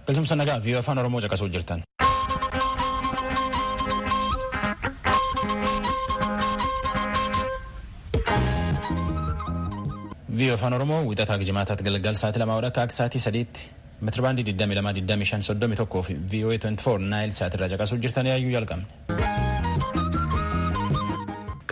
Galtumsa nagaa fi afaan Oromoo caqasuu jirtan. Viiyoo afaan Oromoo wixataa jimaataatti galgal sa'aatii lamaa akka sa'aatii sadiitti Metirbaandii 22 25 31 fi VOA 24 Naayil Saat irraa caqasuu jirtan yaayyuu jalqabne.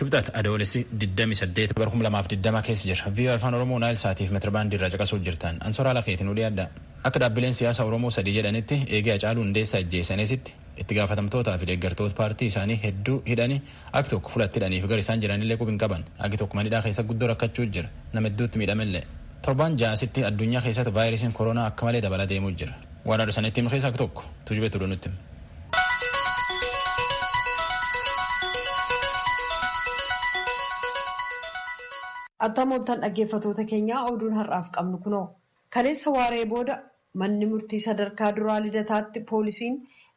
Kibxat Adoolessi 28 bara 2020 keessa jira. VOA Afaan Oromoo Naayil Saatiif metirbaandii irraa caqasuu jirtan. Ansoraa Lakeetiin nu dhiyaadha. Akka dhaabbileen siyaasa Oromoo sadii jedhanitti eegee Hacaaluu Hundeessaa ajjeesanitti itti gaafatamtootaa fi deeggartoota paartii isaanii hedduu hidhanii Agi tokko fula itti hidhaniifi gara isaan jiranillee qubi hin qaban. Agi tokko mana hidhaa keessa guddoo rakkachuu jira. Nama hedduutti miidhamellee. Torbaan ja'a asitti addunyaa keessatti vaayirasiin koroonaa akka malee dabalaa deemuu jira. Waan haadha sanitti hime keessa agi tokko Tujubeetu oduu nutti hime. Attam ooltan dhaggeeffatoota keenyaa oduun har'aaf qabnu kunoo. Kaleessa waaree booda Manni Murtii Sadarkaa Duraa Lidataatti poolisiin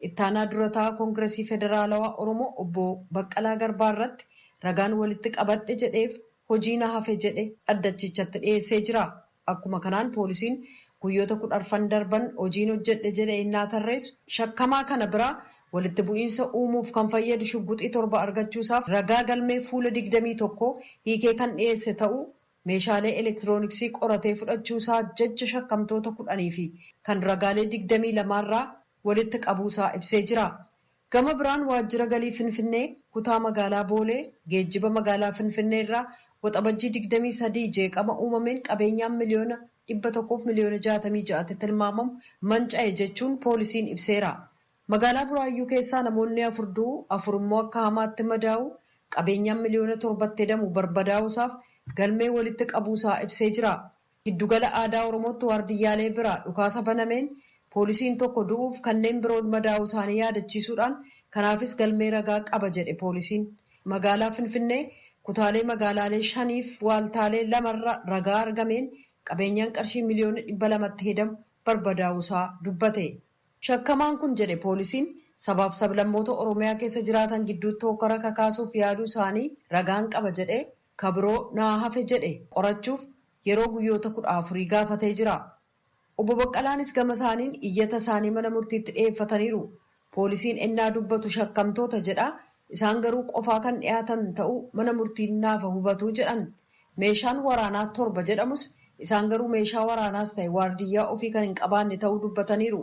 Ittaanaa Dura Taa'aa Kongirasii Federaalawaa Oromoo Obbo Baqqalaa Garbaa irratti ragaan walitti qabadhe jedheef hojii na hafe jedhe dhaddachichatti dhiyeessee jira. Akkuma kanaan poolisiin guyyoota kudha arfan darban hojiin hojjedhe jedhe ennaa tarreessu shakkamaa kana biraa walitti bu'iinsa uumuuf kan fayyadu shugguxii torba argachuusaaf ragaa galmee fuula digdamii tokko hiikee kan dhiyeesse ta'uu meeshaalee elektirooniksii qoratee fudhachuu isaa jecha shakkamtoota kudhanii fi kan ragaalee digdamii lama irraa walitti qabuu isaa ibsee jira. Gama biraan Waajjira Galii Finfinnee, Kutaa Magaalaa Boolee, Geejjiba Magaalaa Finfinnee irraa Waxabajjii digdamii sadii jeeqama uumameen qabeenyaan miliyoona dhibba tokkoo fi miliyoona jaatamii ja'atti tilmaamamu manca'e jechuun poolisiin ibseera. Magaalaa Buraayyuu keessaa namoonni afur du'uu, afur immoo akka hamaatti madaa'uu, qabeenyaan miliyoona torbatti hedamu barbadaa'uu isaaf galmee walitti qabuu isaa ibsee jira. Giddu gala aadaa Oromootti waardiyyaalee biraa dhukaasa banameen poolisiin tokko du'uuf kanneen biroon madaa'uu isaanii yaadachiisuudhaan kanaafis galmee ragaa qaba jedhe poolisiin. Magaalaa Finfinnee kutaalee magaalaalee shaniif waaltaalee lama irra ragaa argameen qabeenyaan qarshii miliyoona dhibba lamatti hedamu barbadaa'uu isaa dubbate. Shakkamaan kun jedhe poolisiin, sabaaf sablammoota Oromiyaa keessa jiraatan gidduutti hokkara kakaasuuf yaaduu isaanii ragaan qaba jedhee ka biroo naa hafe jedhe qorachuuf yeroo guyyoota kudha afurii gaafatee jira. Obbo Baqqalaanis gama isaaniin iyyata isaanii mana murtiitti dhiyeeffataniiru. Poolisiin ennaa dubbatu shakkamtoota jedha, isaan garuu qofaa kan dhiyaatan ta'uu mana murtiin naafa hubatu jedhan Meeshaan waraanaa torba jedhamus isaan garuu meeshaa waraanaas ta'e waardiyyaa ofii kan hin qabaanne ta'uu dubbataniiru.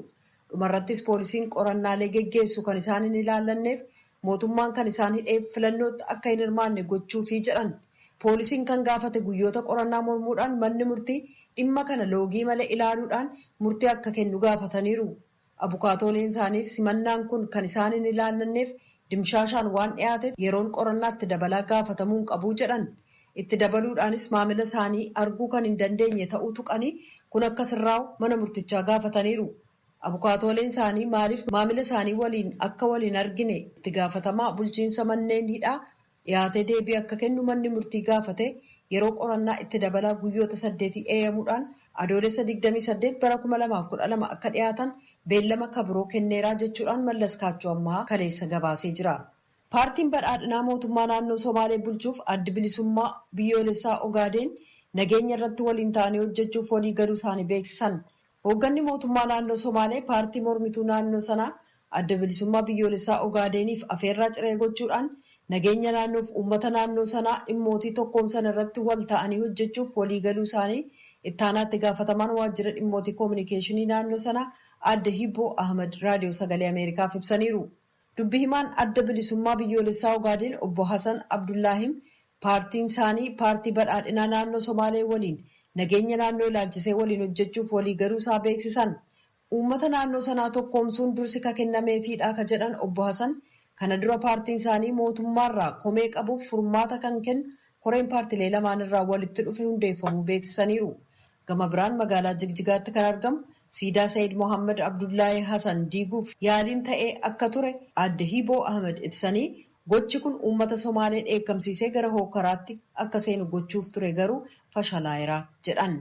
Dhumarrattis poolisiin qorannaalee geggeessu kan isaan hin ilaallanneef mootummaan kan isaan hidheef filannootti akka hin hirmaanne gochuufi jedhan. Poolisiin kan gaafate guyyoota qorannaa mormuudhaan manni murtii dhimma kana loogii malee ilaaluudhaan murtii akka kennu gaafataniiru. Abukaatooliin isaaniis himannaan kun kan isaan hin ilaallanneef dimshaashaan waan dhiyaateef yeroon qorannaa itti dabalaa gaafatamuu hin qabu jedhan. Itti dabaluudhaanis maamila isaanii arguu kan hin dandeenye ta'uu tuqanii kun akka sirraa'u mana murtichaa gaafataniiru. Abukaatooleen isaanii maaliif maamila isaanii waliin akka wal hin argine itti gaafatamaa bulchiinsa manneen hidhaa dhiyaatee deebii akka kennu manni murtii gaafatee yeroo qorannaa itti dabalaa guyyoota saddeetii eeyamuudhaan Adoolessa digdamii saddeet bara kuma lamaa fi kudha lama akka dhiyaatan beellama ka biroo kenneeraa jechuudhaan Mallaskaachoo Ammahaa kaleessa gabaasee jira. Paartiin Badhaadhinaa mootummaa naannoo Somaalee bulchuuf Addi Bilisummaa Biyyoolessaa Ogaadeen nageenya irratti waliin ta'anii hojjechuuf walii galuu isaanii beeksisan. Hoogganni mootummaa naannoo Somaalee paartii mormituu naannoo sanaa Adda Bilisummaa Biyyoolessaa Ogaadeeniif afeerraa ciree gochuudhaan nageenya naannoof uummata naannoo sanaa dhimmootii tokkoomsan irratti wal ta'anii hojjechuuf walii galuu isaanii Ittaanaa Itti Gaafatamaan Waajjira Dhimmootii Kominikeeshinii naannoo sanaa Aadde Hibboo Ahmad Raadiyoo Sagalee Ameerikaaf ibsaniiru. Dubbi himaan Adda Bilisummaa Biyyoolessaa Ogaadeen Obbo Hasan Abdullaahim paartiin isaanii Paartii Badhaadhinaa Naannoo Somaalee waliin nageenya naannoo ilaalchisee waliin hojjechuuf walii galuu isaa beeksisan. Uummata naannoo sanaa tokkoomsuun dursi ka kennameefiidha ka jedhan Obbo Hasan, kana dura paartiin isaanii mootummaarraa komee qabuuf furmaata kan kennu koreen paartilee lamaan irraa walitti dhufe hundeeffamuu beeksisaniiru. Gama biraan magaalaa Jigjigaatti kan argamu siidaa Sayid Mohaammad Abdullaahii Hasan diiguuf yaaliin ta'ee akka ture Aadde Hiiboo Ahimad ibsanii, gochi kun uummata Somaalee dheekkamsiisee gara hookkaraatti akka seenu gochuuf ture garuu fashalaa'era jedhan.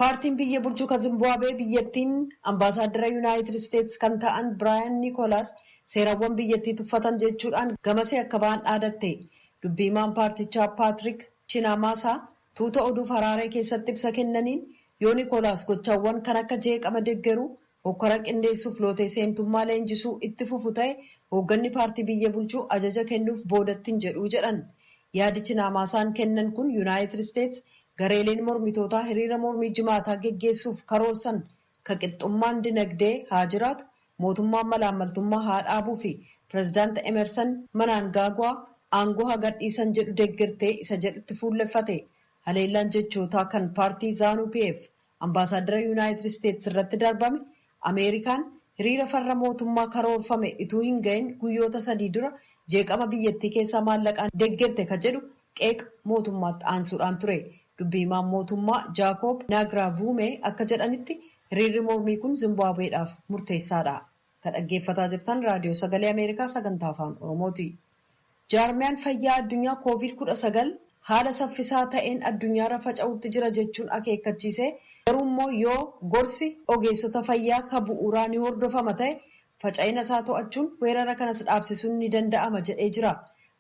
Paartiin biyya bulchu ka Zimbuwaabee biyyattiin Ambaasaaddara Yunaayitid Isteets kan ta'an Biraayan Nikoolaas seerawwan biyyattii tuffatan jechuudhaan gamasii akka ba'an dhaadatte. Dubbi himaan paartichaa Paatrik Chinamaasaa tuuta oduuf Haraaree keessatti ibsa kennaniin yoo Nikoolaas gochawwan kan akka jeeqama deggeruu, Hokkara qindeessuuf lootee seentummaa leenjisuu itti fufu ta'e hoogganni paartii biyya bulchuu ajaja kennuuf boodatti hin jedhu jedhan. Yaadi Chinaamaasaan kennan kun Yunaayitid Isteets gareeleen mormitootaa hiriira mormii Jimaataa geggeessuuf karoorsan ka qixxummaan dinagdee haa jiraatu, mootummaan malaammaltummaa haa dhaabuu fi Pirezidaant Emersan Manaangaagwaa aangoo haa gadhiisan jedhu deggertee isa jedhutti fuulleffate. Haleellaan jechootaa kan paartii Zanu PF Ambaasaaddara Yunaayitid Isteets irratti darbame, Ameerikaan hiriira farra mootummaa karoorfame ituu hin gahin guyyoota sadii dura jeeqama biyyattii keessaa maallaqaan deggerte ka jedhu qeeqa mootummaatti aansuudhaan ture. Dubbi himaan mootummaa Jaakoob Naagraavuumee akka jedhanitti hiriirri mormii kun Zimbaabweedhaaf murteessaadha. Ka dhaggeeffataa jirtan Raadiyoo Sagalee Ameerikaa sagantaa Afaan Oromooti. Jaarmiyaan Fayyaa Addunyaa Kooviid 19 haala saffisaa ta'een addunyaarra faca'uutti jira jechuun akeekkachiisee, garuummoo yoo gorsi ogeessota fayyaa ka bu'uuraa ni hordofama ta'e faca'ina isaa to'achuun weerara kanas dhaabsisuun ni danda'ama jedhee jira.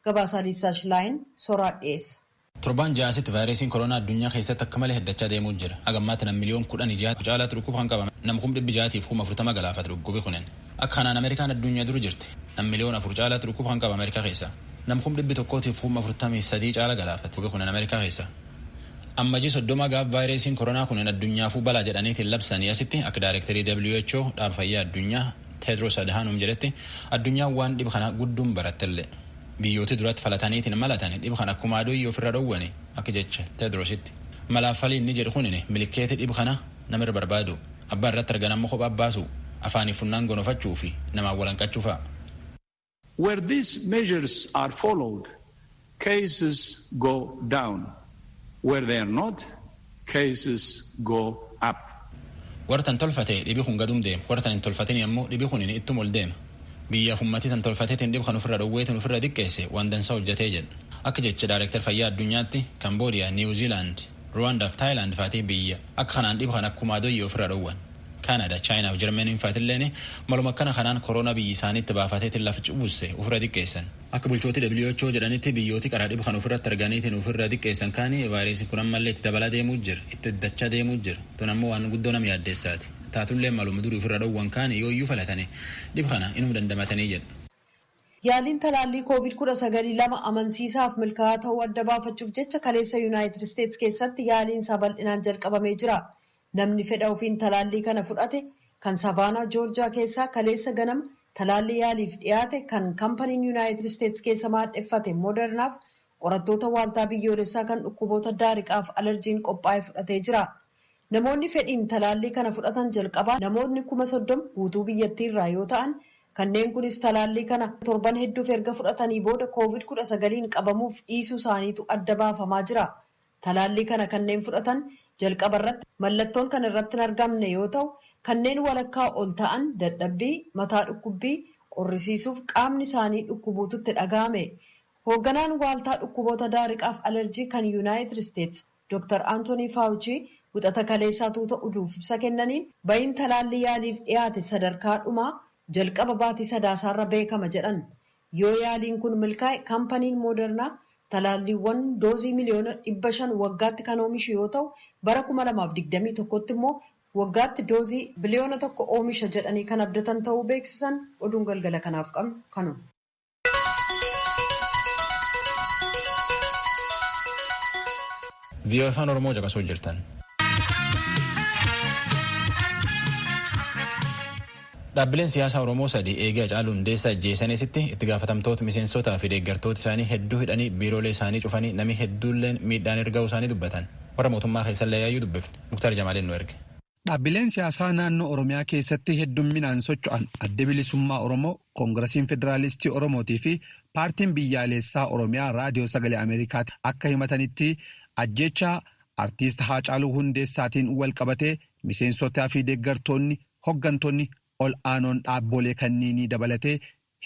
Gabaasaa Liisaa Shilaayin soraat dhiyeessa. Torbaan ja'a asitti vaayiresiin koroonaa addunyaa keessatti akka malee heddachaa deemuu jira. Haga ammaatti nam miliyoon kudhanii jaha caalaatti dhukkuba kan qabame. Nam kum dhibbi jahatiif kum afurtama galaafate dhukkubi kunin. Akka kanaan Ameerikaan addunya dur jirti. Nam miliyoon afur caalaatti dhukkuba kan qaba Ameerikaa keessa. Nam kum dhibbi tokkootiif kum afurtamii sadii caala galaafate dhukkubi kunin Ameerikaa keessa. Ammajii soddoma gaaf vaayiresiin koroonaa kunin addunyaafuu balaa jedhaniitiin labsanii asitti akka daarekterii who dhaaba fayyaa addunyaa Teedros Adhanom jedhetti addunyaan waan dhib kana gudduun barattellee. Biyyooti duratti falataniitiin malatan dhib kana akkumaa doyii ofirra dhowwani akka jecha Tedrositti. Malaaf falii inni jedhu kunin milikkeeti dhib kana nama irra barbaadu, abbaa irratti argan ammo kophaa baasu, afaaniif funnaan gonofachuu fi namaan walanqachuu fa'a. Where these measures are followed, cases go down, where they are not, cases go up. Warri tan tolfate dhibi kun gadum deema, warri tan hin tolfatini ammo dhibi kunini ittuma oldeema. Biyyaf ummati tan tolfatetin dhib kan ufirra d'owweetin ufirra diqqeesse waan dansa hojjate jedha. Akka jecha Director Fayyaa Addunyaatti Cambodia, New Zealand, Rwanda fi Thailand faati biyya akka kanaan dhib kan akkumaa doyye ufirra dhowwan. Canada, China fi Germany faatilleen maluma akkana kanaan corona biyyi isaanitti baafatetin laf cubbusse ufirra diqqeessan. Akka bulchooti who jedhanitti biyyooti qaraa dhibu kana ufirratti arganiitiin ufirra diqqeessan kaani vaayiresiin kun ammallee itti dabalaa deemuu jira, itti heddachaa deemuu jira. Tun ammoo waan guddoo nama yaaddeessaati. Taatullee maluma durii ufirra dhowwan kaani yooyyuu falatani dhib kana inuma dandamatanii jedha. Yaaliin talaallii Covid kudha sagal lama amansiisaaf milkaa'aa ta'uu adda baafachuuf jecha kaleessa Yunaayitid Isteets keessatti yaaliin isaa bal'inaan jalqabamee jira. Namni fedha ofiin talaallii kana fudhate kan Savaanaa Joorjaa keessaa kaleessa ganama talaallii yaaliif dhiyaate kan kampaniin Yunaayitid Isteets keessa maadheffate Modernaaf qorattoota Waaltaa Biyyoolessaa kan Dhukkuboota Daariqaaf Alarjiin qophaa'e fudhatee jira. Namoonni fedhiin talaallii kana fudhatan jalqabaa namootni 30,000 guutuu biyyattii irraa yoo ta'an, kanneen kunis talaallii kana torban hedduuf erga fudhatanii booda Covid 19n qabamuuf dhiisuu isaaniitu adda baafamaa jira. Talaallii kana kanneen fudhatan jalqaba irratti mallattoon kan irratti hin argamne yoo ta'u, kanneen walakkaa ol ta'an dadhabbii, mataa dhukkubbii, qorrisiisuuf qaamni isaanii dhukkubuutu itti dhaga'ame. Hoogganaan Waaltaa Dhukkuboota Daariqaaf Alerjii kan Yunaayitid Isteets Doktar Antonii Faawuchii wixata kaleessaa tuuta uduuf ibsa kennaniin bayiin talaallii yaaliif dhiyaate sadarkaa dhumaa jalqaba baatii Sadaasaarra beekama jedhan. Yoo yaaliin kun milkaa'e kampaniin Moodernaa talaalliiwwan doozii miliyoona 500 waggaatti kan oomishu yoo ta'u, bara 2021tti immoo waggaatti doozii biliyoona tokko oomisha jedhanii kan abdatan ta'uu beeksisan. Oduun galgala kanaaf qabnu kanuma. Vii'oo Afaan Oromoo caqasuu jirtan. Dhaabbileen siyaasaa Oromoo sadi eegii Hacaaluu Hundeessaa ijjeesanii asitti itti gaafatamtoota, miseensotaa fi deeggartoota isaanii hedduu hidhanii biiroolee isaanii cufanii namii hedduulleen miidhaan irra gahuu isaanii dubbatan. Warra mootummaa keessallee yaayyuu dubbifne. Muktaar Jamaaliin nu erge. Dhaabbileen siyaasaa naannoo Oromiyaa keessatti heddumminaan socho'an Addi Bilisummaa Oromoo, Koongirasiin Federaalistii Oromootii fi Paartiin Biyyaaleessaa Oromiyaa Raadiyoo Sagalee Ameerikaatti akka himatanitti ajjeechaa Artiist Haacaaluu Hundeessaatiin walqabatee miseensotaa fi deeggartoonni Hoggantoonni ol aanoon dhaabboolee kanniinii dabalatee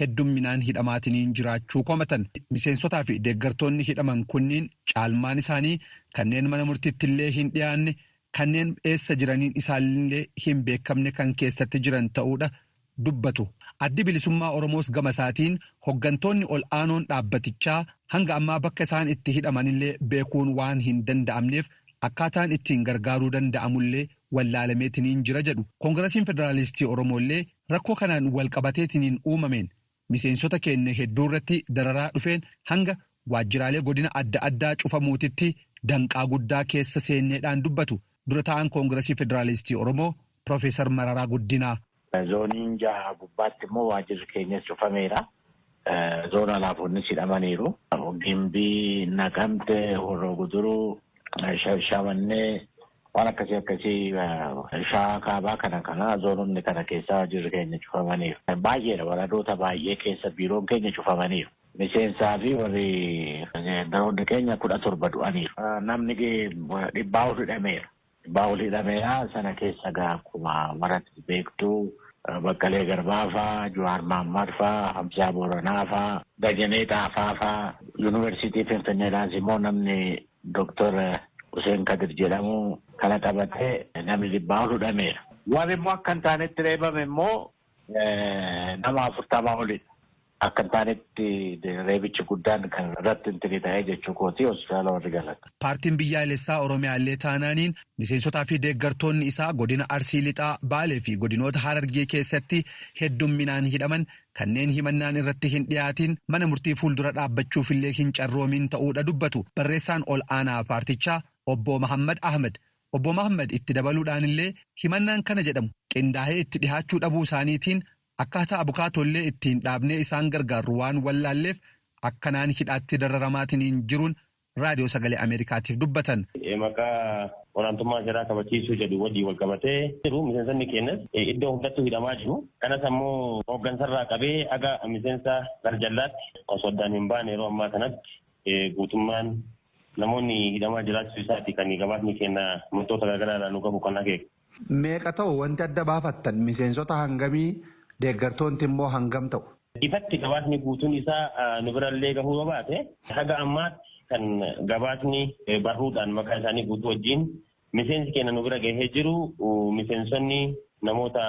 heddumminaan hidhamaatiniin jiraachuu komatan. Miseensotaa fi deeggartoonni hidhaman kunniin caalmaan isaanii kanneen mana murtittillee hin dhiyaanne, kanneen eessa jiraniin isaanillee hin beekamne kan keessatti jiran ta'uudha dubbatu. Addi Bilisummaa Oromoos gama isaatiin hoggantoonni ol aanoon dhaabbatichaa hanga ammaa bakka isaan itti hidhamanillee beekuun waan hin danda'amneef akkaataan ittiin gargaaruu danda'amullee wallaalameetiniin jira jedhu. Kongirasiin Federaalistii Oromoollee rakkoo kanaan walqabateetiniin uumameen miseensota keenya hedduurratti dararaa dhufeen hanga waajjiraalee godina adda addaa cufamuutitti danqaa guddaa keessa seenneedhaan dubbatu Dura Taa'aan Kongirasii Federaalistii Oromoo Pirofeesar Mararaa Guddinaa. Zooniin jaha gubbaatti immoo waajjirri keenyas cufameera. Zoona laafoonnis hidhamaniiru. Gimbii, Naqamte, Horroo Guduruu, Shashamannee waan akkasii akkasii shawaa kaabaa kana kana zoononni kana keessaa waajjirri keenya cufamaniiru. Baay'eedha waradoota baay'ee keessa biiroon keenya cufamaniiru. Miseensaa fi warri daroonni keenya kudha torba du'aniiru. Namni dhibbaa ol hidhameera. Baawul hidhameeraa sana keessa gaa akkuma marati beektu Baqqalee Garbaa faa, Juwaar Maammaad faa, Hamzaa Booranaa faa, Dajanee Xaafaa faa, Yuunivarsiitii Finfinneedhaas immoo namni Doktor Huseen Kadir jedhamu kana qabatee namni dhibbaa ol hudhameera. Warri immoo akka hin taanetti reebame immoo nama afurtamaa olidha. Akka hin taanetti reebichi guddaan kan irratti intini ta'ee jechuu kooti hospitaala warri galan. Paartiin Biyyaalessaa Oromiyaa illee taanaaniin miseensotaa fi deeggartoonni isaa godina Arsii Lixaa, Baalee fi godinoota Harargee keessatti heddumminaan hidhaman kanneen himannaan irratti hin dhiyaatiin mana murtii fuuldura dhaabbachuuf illee hin carroomiin ta'uu dha dubbatu barreessaan ol aanaa paartichaa Obbo Mahaammad Ahmad. Obbo Mahaammad itti dabaluu dhaan illee himannaan kana jedhamu qindaahee itti dhihaachuu dhabuu isaaniitiin Akkaataa abukaatoollee ittiin dhaabnee isaan gargaarru waan wallaalleef akkanaan hidhaatti dararamaatiniin jiruun Raadiyoo Sagalee Ameerikaatiif dubbatan. Maqaa olaantummaa seeraa kabachiisuu jedhu wajjin wal qabatee jiru miseensonni keenyas iddoo hundattuu hidhamaa jiru. Kanas ammoo hooggansarraa qabee haga miseensa garjallaatti osoo addaan hin baane yeroo ammaa kanatti guutummaan namoonni hidhamaa jiraachuu isaati kan gabaasni keenya murtoota garaagaraa irraa nu gahu kan akeeku. Meeqa ta'u wanti adda baafattan? Miseensota hangamii? Deeggartoonti immoo hangam ta'u? Ifatti gabaasni guutuun isaa nu birallee gahuu yoo baate, haga ammaatti kan gabaasni barruudhaan maqaa isaanii guutuu wajjiin miseensi keenya nu bira gahee jiru miseensonni namoota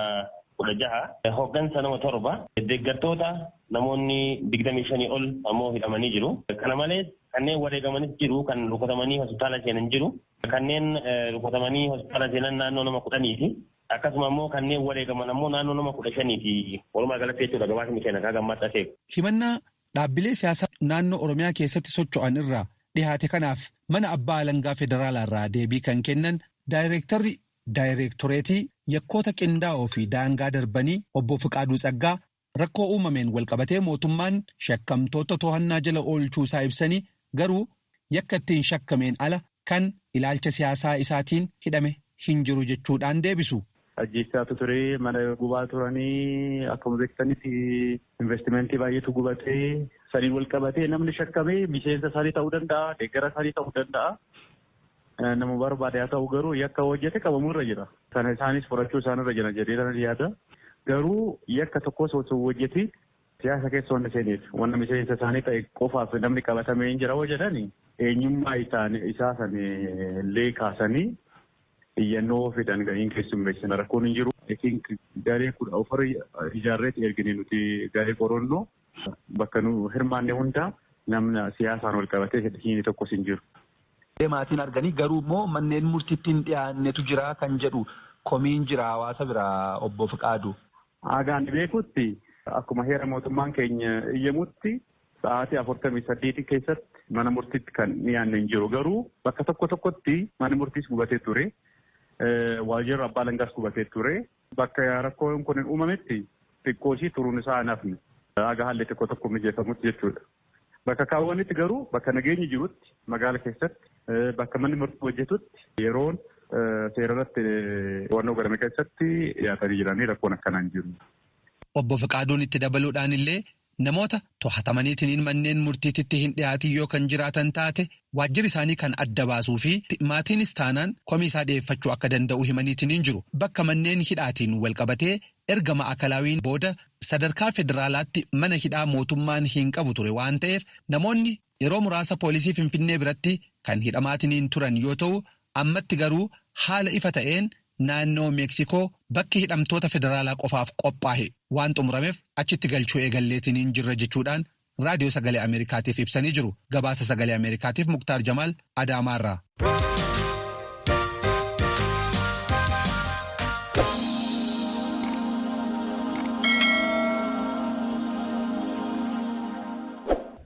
16, hoggansa nama 7, deeggartoota namoonni 25 ol ammoo hidhamanii jiru. Kana malees kanneen wareegamanis jiru, kan rukutamanii hospitaala seenan jiru. Kanneen rukutamanii hospitaala seenan naannoo nama kudhaniiti. Akkasuma ammoo kanneen wareegaman ammoo naannoo nama kudha shaniiti. Walumaa galatti jechuudha gabaasni keenya akka gammaatti akeeku. Himannaa dhaabbilee siyaasaa naannoo Oromiyaa keessatti socho'an irraa dhihaate kanaaf mana abbaa alangaa federaalaa irraa deebii kan kennan daayreektarri daayreektoreetii yakkoota qindaa'oo fi daangaa darbanii obbo Fiqaaduu Tsaggaa Rakkoo uumameen walqabatee mootummaan shakkamtoota tohannaa jala oolchuu isaa ibsanii, garuu yakka ittiin shakkameen ala kan ilaalcha siyaasaa isaatiin hidhame hin jiru jechuudhaan deebisu. Ajjeechaatu ture, mana gubaa turanii, akkuma beektanitti investimentii baay'eetu gubate. Saniin walqabatee namni shakkame miseensa isaanii ta'uu danda'a, deeggara isaanii ta'uu danda'a. Nama barbaade haa ta'u garuu yakka yoo hojjete qabamuu irra jira. Sana isaanis fudhachuu isaan irra jira jedhee tanan yaada. Garuu yakka tokkos osoo hojjetiin siyaasa keessa waan seeneef wanna miseensa isaanii ta'e qofaaf namni qabatamee hin jira yoo jedhan eenyummaa isaa san illee kaasanii iyyannoo fidan gahiin keessummeessina rakkoon hin jiru. I think garee kudha ofirra ijaarreetti ergine nuti garee qorannoo. Bakka nu hirmaanne hunda namna siyaasaan walqabatee hiine tokkos hin jiru. Ee maatiin arganii garuu immoo manneen murtiitti hin dhiyaannetu jira kan jedhu komiin jira hawaasa biraa Obbo Fiqaaduu. Haga ani beekutti akkuma heera mootummaan keenya eyyamutti sa'aatii 48 keessatti mana murtiitti kan dhiyaanne hin jiru. Garuu bakka tokko tokkotti manni murtiis gubatee ture. Waajjirri abbaa alangaas gubatee ture. Bakka rakkoon kun uumametti xiqqooshii turuun isaa hin hafne. Haga haalli xiqqoo tokko mijeeffamutti jechuudha. Bakka kaawwanitti garuu bakka nageenyi jirutti magaala keessatti bakka manni murtii hojjetutti yeroon seera irratti to'annoo godhame keessatti dhiyaatanii jiranii rakkoon akkanaa hin jiru. Obbo Fiqaaduun itti dabaluudhaanillee Namoota tohatamaniitiniin manneen murtiititti hin dhiyaatiin yoo kan jiraatan taate waajjiri isaanii kan adda baasuu fi maatiinis taanaan komii isaa dhiyeeffachuu akka danda'u himaniitiniin jiru. Bakka manneen hidhaatiin walqabatee erga Ma'akalaawiin booda sadarkaa federaalaatti mana hidhaa mootummaan hin qabu ture waan ta'eef namoonni Yeroo muraasa poolisii Finfinnee biratti kan hidhamaatiniin turan yoo ta'u, ammatti garuu haala ifa ta'een naannoo Meeksikoo bakki hidhamtoota federaalaa qofaaf qophaahe waan xumuramef achitti galchuu eegalleetiniin jirra jechuudhaan Raadiyoo Sagalee Ameerikaatiif ibsanii jiru. Gabaasa Sagalee Ameerikaatiif Muktaar Jamaal Adaamaarraa.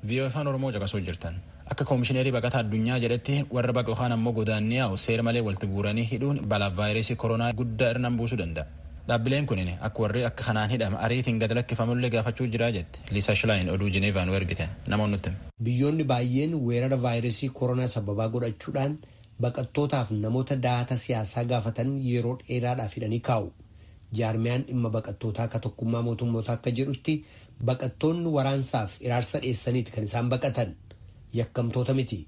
VOA Afaan Oromoo caqasuu jirtan. Akka Koomishineerii Baqataa Addunyaa jedhetti warra baqa yookaan ammoo godaannee yaa'u seera malee walitti guuranii hidhuun balaaf vaayirasii koronaa guddaa irraan buusuu danda'a. Dhaabbileen kunin akka warri akka kanaan hidhame ariitiin gad lakkifamullee gaafachuu jira jette. jette Liisa Shilaayin oduu Jineevaa nu ergite. Namoon nutti hima. Biyyoonni baay'een weerara vaayirasii koronaa sababaa godhachuudhaan baqattootaaf namoota daahata siyaasaa gaafatan yeroo dheeraadhaaf hidhanii kaa'u. Jaarmiyaan dhimma baqattootaa ka tokkummaa mootummootaa akka jedhutti baqattoonni waraansaaf hiraarsa dheessaniiti kan isaan baqatan. Yakkamtoota miti.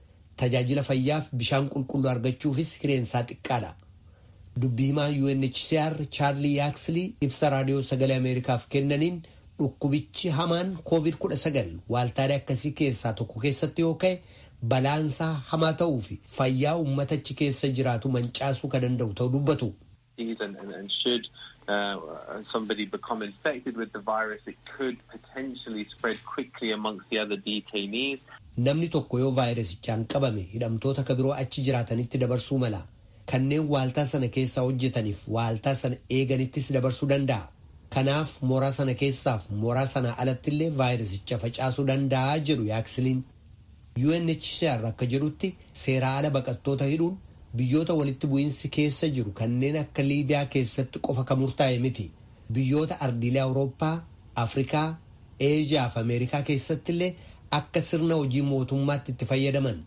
Tajaajila fayyaaf bishaan qulqulluu argachuufis hireen isaa xiqqaadha. Dubbi himaan UNHCR Chaarlii Yaakslii ibsa Raadiyoo Sagalee Ameerikaaf kennaniin dhukkubichi hamaan Kooviid 19 waaltaalee akkasii keessaa tokko keessatti yoo ka'e balaan isaa hamaa ta'uu fi fayyaa uummata achi keessa jiraatu mancaasuu ka danda'u ta'uu dubbatu. is and, and, and should uh, somebody become infected with the virus, it could potentially spread quickly amongst the other detainees. Namni tokko yoo vaayirasichaan qabame hidhamtoota ka biroo achi jiraatanitti dabarsuu mala. Kanneen waaltaa sana keessaa hojjetaniif waaltaa sana eeganittis dabarsuu danda'a. Kanaaf mooraa sana keessaaf mooraa sanaa alattillee vaayirasicha facaasuu danda'a jedhu yaaksiliin. UNHCR akka jedhutti seeraa ala baqattoota hidhuun biyyoota walitti bu'iinsi keessa jiru kanneen akka Liibiyaa keessatti qofa kan murtaa'e miti. Biyyoota ardiilee Awurooppaa, Afrikaa, Eeshiyaa fi Ameerikaa keessatti illee akka sirna hojii mootummaatti itti fayyadaman.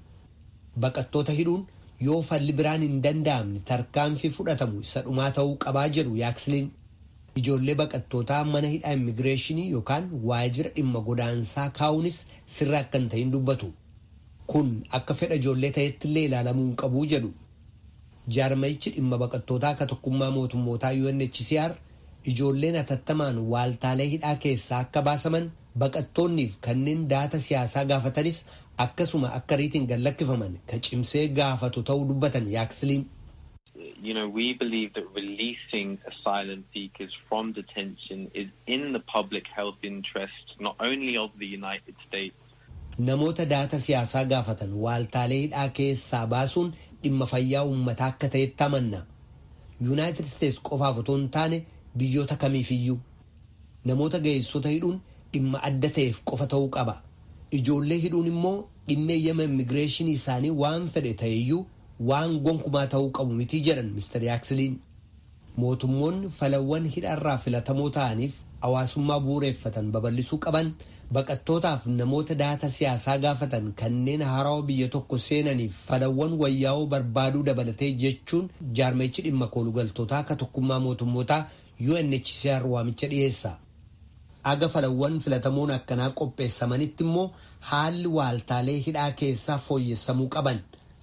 Baqattoota hidhuun yoo falli biraan hin danda'amne tarkaanfii fudhatamu isa dhumaa ta'uu qabaa jedhu Yaaksliin. Ijoollee baqattootaa mana hidhaa immigireeshinii yookaan waajjira dhimma godaansaa kaa'uunis sirrii akka hin ta'in dubbatu. Kun akka fedha ijoollee ta'ettillee ilaalamuu hin qabu jedhu. Jaarmayichi dhimma baqattootaa ka tokkummaa mootummootaa UNHCR ijoolleen hatattamaan waaltaalee hidhaa keessaa akka baasaman, baqattoonniif kanneen daata siyaasaa gaafatanis akkasuma akka ariitiin gad lakkifaman ka cimsee gaafatu ta'uu dubbatan Yaaksliin. You know, we believe that releasing asylum seekers from detention is in the public health interest, not only of the United States. Namoota daata siyaasaa gaafatan waaltaalee hidhaa keessaa baasuun dhimma fayyaa uummataa akka ta'etti amanna. Yuunaayitid Isteets qofaaf otoo hin taane biyyoota kamiifiyyuu. Namoota ga'eessota hidhuun dhimma adda ta'eef qofa ta'uu qaba. Ijoollee hidhuun immoo dhimma eeyyama immigireeshinii isaanii waan fedhe ta'eyyuu waan gonkumaa ta'uu qabu miti jedhan Mr Yaaksiliin. Mootummoonni falawwan hidhaarraa filatamoo ta'aniif hawaasummaa bu'ureeffatan babal'isuu qaban, baqattootaaf namoota dahata siyaasaa gaafatan kanneen haarawa biyya tokko seenaniif falawwan wayyaawoo barbaaduu dabalatee jechuun jaarmayichi dhimma koolugaltootaa ka tokkummaa mootummootaa UNHCR waamicha dhiyeessa. Haga falawwan filatamoon akkanaa qopheessamanitti immoo haalli waaltaalee hidhaa keessaa fooyyessamuu qaban.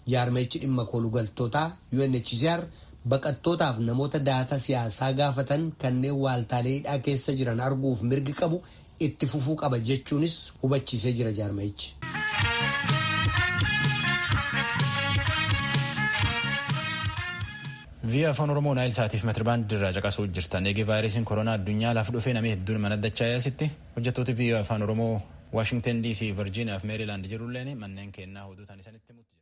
Jaarmayichi dhimma koolugaltootaa, UNHCR, baqattootaaf namoota daataa siyaasaa gaafatan kanneen waaltaalee hidhaa keessa jiran arguuf mirgi qabu itti fufuu qaba jechuunis hubachiisee jira jaarmayichi. Via Afaan Oromoo Naayil Saatiif Metirbaandii irraa caqasuu jirtan. Eegee vaayirasiin koronaa addunyaa laaf dhufee namni hedduun mana dachaa yaasitti hojjettooti Via Afaan Oromoo Waashingtan DC, Virginia fi Meerilaand jirulleen manneen kennaa hoduu tanisanitti mutti jira.